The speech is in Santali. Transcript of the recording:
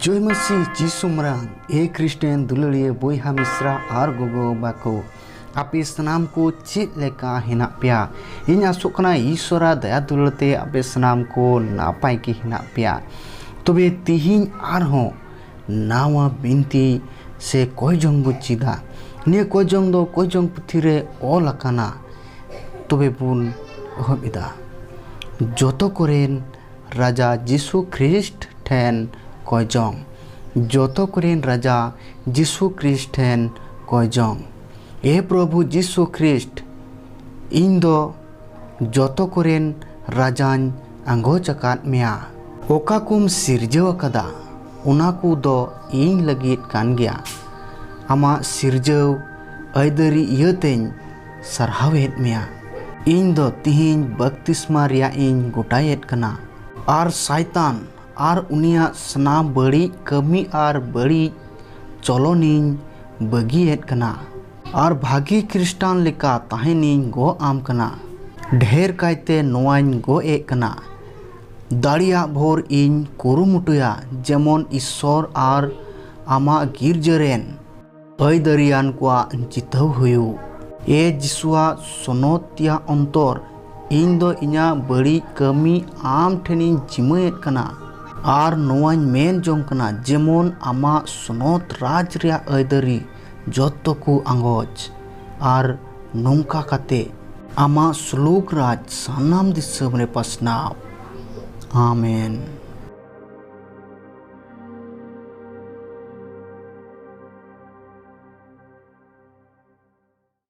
ᱡᱚᱭ ᱢᱟᱹᱥᱤ ᱡᱤᱥᱩ ᱢᱟᱨᱟᱝ ᱮ ᱠᱨᱤᱥᱴᱮᱱ ᱫᱩᱞᱟᱹᱲᱤᱭᱟᱹ ᱵᱚᱭᱦᱟ ᱢᱤᱥᱨᱟ ᱟᱨ ᱜᱚᱜᱚ ᱵᱟᱵᱟ ᱠᱚ ᱟᱯᱮ ᱥᱟᱱᱟᱢ ᱠᱚ ᱪᱮᱫ ᱞᱮᱠᱟ ᱦᱮᱱᱟᱜ ᱯᱮᱭᱟ ᱤᱧ ᱟᱥᱚᱜ ᱠᱟᱱᱟ ᱤᱥᱚᱨᱟ ᱫᱟᱭᱟ ᱫᱩᱞᱟᱹᱲ ᱛᱮ ᱟᱯᱮ ᱥᱟᱱᱟᱢ ᱠᱚ ᱱᱟᱯᱟᱭ ᱜᱮ ᱦᱮᱱᱟᱜ ᱯᱮᱭᱟ ᱛᱚᱵᱮ ᱛᱤᱦᱤᱧ ᱟᱨᱦᱚᱸ ᱱᱟᱣᱟ ᱵᱤᱱᱛᱤ ᱥᱮ ᱠᱚᱭ ᱡᱚᱝ ᱵᱚᱱ ᱪᱮᱫᱟ ᱱᱤᱭᱟᱹ ᱠᱚᱭ ᱡᱚᱝ ᱫᱚ ᱠᱚᱭ ᱡᱚᱝ ᱯᱩᱛᱷᱤ ᱨᱮ ᱚᱞ ᱟᱠᱟᱱᱟ ᱛᱚᱵᱮ ᱵᱚᱱ ᱮᱦᱚᱵ ᱮᱫᱟ ᱡᱚᱛᱚ ᱠᱚᱨᱮᱱ ᱨᱟᱡᱟ ᱡᱤᱥᱩ ᱠᱷᱨᱤᱥᱴ ᱴᱷᱮᱱ ᱠᱚᱭ ᱡᱚᱝ ᱡᱚᱛᱚ ᱠᱚᱨᱮᱱ ᱨᱟᱡᱟ ᱡᱤᱥᱩ ᱠᱷᱨᱤᱥᱴ ᱴᱷᱮᱱ ᱠᱚᱭ ᱡᱚᱝ ᱮ ᱯᱨᱚᱵᱷᱩ ᱡᱤᱥᱩ ᱠᱷᱨᱤᱥᱴ ᱤᱧ ᱫᱚ ᱡᱚᱛᱚ ᱠᱚᱨᱮᱱ ᱨᱟᱡᱟᱧ ᱟᱸᱜᱚᱪ ᱟᱠᱟᱫ ᱢᱮᱭᱟ᱾ ᱚᱠᱟ ᱠᱚᱢ ᱥᱤᱨᱡᱟᱹᱣ ᱟᱠᱟᱫᱟ ᱚᱱᱟ ᱠᱚ ᱫᱚ ᱤᱧ ᱞᱟᱹᱜᱤᱫ ᱠᱟᱱ ᱜᱮᱭᱟ᱾ ᱟᱢᱟᱜ ᱥᱤᱨᱡᱟᱹᱣ ᱟᱹᱭᱫᱟᱹᱨᱤ ᱤᱭᱟᱹ ᱛᱮᱧ ᱥᱟᱨᱦᱟᱣ ᱮᱫ ᱢᱮᱭᱟ᱾ ᱤᱧ ᱫᱚ ᱛᱤᱦᱤᱧ ᱵᱟᱯᱛᱤᱥᱢᱟ ᱨᱮᱭᱟᱜ ᱤᱧ ᱜᱚᱴᱟᱭᱮᱫ ᱠᱟᱱᱟ᱾ ᱟᱨ ᱥᱟᱭᱛᱟᱱ ᱟᱨ ᱩᱱᱤᱭᱟᱜ ᱥᱟᱱᱟᱢ ᱵᱟᱹᱲᱤᱡ ᱠᱟᱹᱢᱤ ᱟᱨ ᱵᱟᱹᱲᱤᱡ ᱪᱚᱞᱚᱱ ᱤᱧ ᱵᱟᱹᱜᱤ ᱮᱫ ᱠᱟᱱᱟ᱾ ᱟᱨ ᱵᱷᱟᱹᱜᱤ ᱠᱷᱨᱤᱥᱴᱟᱱ ᱞᱮᱠᱟ ᱛᱟᱦᱮᱱᱤᱧ ᱜᱚᱜ ᱟᱢ ᱠᱟᱱᱟ᱾ ᱰᱷᱮᱨ ᱠᱟᱭᱛᱮ ᱱᱚᱣᱟᱧ ᱜᱚᱜ ᱮᱫ ᱠᱟᱱᱟ, ᱫᱟᱲᱮᱭᱟᱜ ᱵᱷᱳᱨ ᱤᱧ ᱠᱩᱨᱩᱢᱩᱴᱩᱭᱟ ᱡᱮᱢᱚᱱ ᱤᱥᱥᱚᱨ ᱟᱨ ᱟᱢᱟᱜ ᱜᱤᱨᱡᱟᱹ ᱨᱮᱱ ᱟᱹᱭᱫᱟᱹᱨᱤᱭᱟᱱ ᱠᱚᱣᱟᱜ ᱡᱤᱛᱟᱹᱣ ᱦᱩᱭᱩᱜ᱾ ᱮ ᱡᱤᱥᱩᱣᱟᱜ ᱥᱚᱱᱚᱛᱤᱭᱟᱹ ᱚᱱᱛᱚᱨ, ᱤᱧ ᱫᱚ ᱤᱧᱟᱜ ᱵᱟᱹᱲᱤᱡ ᱠᱟᱹᱢᱤ ᱟᱢ ᱴᱷᱮᱱᱤᱧ ᱡᱤᱢᱟᱹ ᱮᱫ ᱠᱟᱱᱟ ᱟᱨ ᱱᱚᱣᱟᱧ ᱢᱮᱱ ᱡᱚᱝ ᱠᱟᱱᱟ ᱡᱮᱢᱚᱱ ᱟᱢᱟᱜ ᱥᱚᱱᱚᱛ ᱨᱟᱡᱽ ᱨᱮᱭᱟᱜ ᱟᱹᱭᱫᱟᱹᱨᱤ᱾ ᱡᱚᱛᱚ ᱠᱚ ᱟᱸᱜᱚᱪ ᱟᱨ ᱱᱚᱝᱠᱟ ᱠᱟᱛᱮ᱾ ᱟᱢᱟᱜ ᱥᱞᱳᱠ ᱨᱟᱡᱽ ᱥᱟᱱᱟᱢ ᱫᱤᱥᱟᱹᱢ ᱨᱮ ᱯᱟᱥᱱᱟᱣ᱾ ᱟᱢᱮᱱ᱾